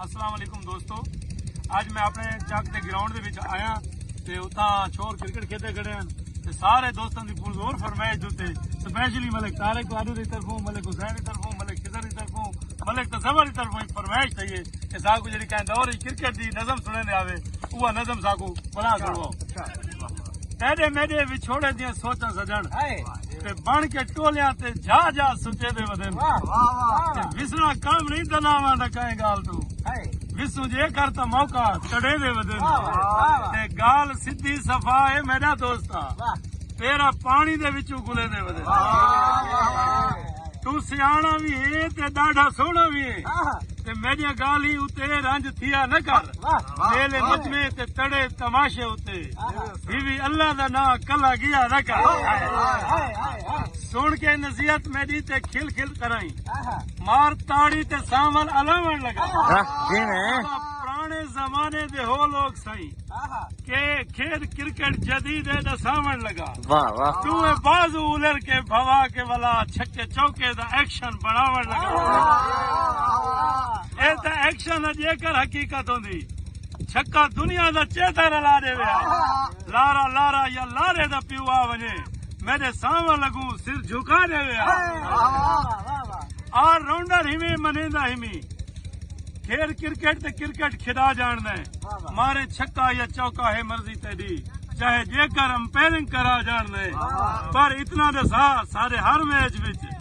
السلام علیکم دوستو اج میں اپنے چک دے گراؤنڈ دے وچ آیا تے اتھاں چھوڑ کرکٹ کھیدے کھڑے ہیں تے سارے دوستاں دی پور زور فرمائش دوتے سپیشلی ملک تارے کو آدھو دی طرفوں ملک حسین دی طرفوں ملک خضر دی طرفوں ملک تصور دی طرفوں فرمائش تھی ہے کہ ساکو جڑی کہیں دور کرکٹ دی نظم سنے دے آوے اوہ نظم ساکو بلا کرو تیرے میرے وچھوڑے دیاں سوچاں سجن تے بن کے ٹولیاں تے جا جا سچے دے ودن وسنا کام نہیں دلاواں دا کہیں گال تو وسوں جے کر تا موقع تڑے دے ودن تے گال سدھی صفا ہے میرا دوستا تیرا پانی دے وچوں گلے دے ودن تو سیانا بھی ہے تے ڈاڑھا سونا بھی ہے تے میری گال ہی اتے رنج تھیا نہ کر میلے مجمے تے تڑے تماشے اتے ہی وی اللہ دا ناں کلا گیا رکا سن کے نصیحت میری تے کھل کھل کرائی مار تاڑی تے ساون الاون لگا پرانے زمانے دے ہو لوگ سائی کہ کھیل کرکٹ جدید ہے دا ساون لگا تو بازو الر کے بھوا کے والا چھکے چوکے دا ایکشن بناون لگا اے تا ایکشن اجے کر حقیقت ہوندی چھکا دنیا دا چیتا رلا ڈیوے آ لارا لارا یا لارے دا پیو آ ونجے میرے ساواں لگوں سر جھکا ڈیوے آ آ راؤنڈر ہمیں منیندا ہمیں کھیل کرکٹ تے کرکٹ کھدا جان دے مارے چھکا یا چوکا ہے مرضی تیری چاہے جے کر امپیرنگ کرا جان دے پر اتنا دے سا سارے ہر میچ وچ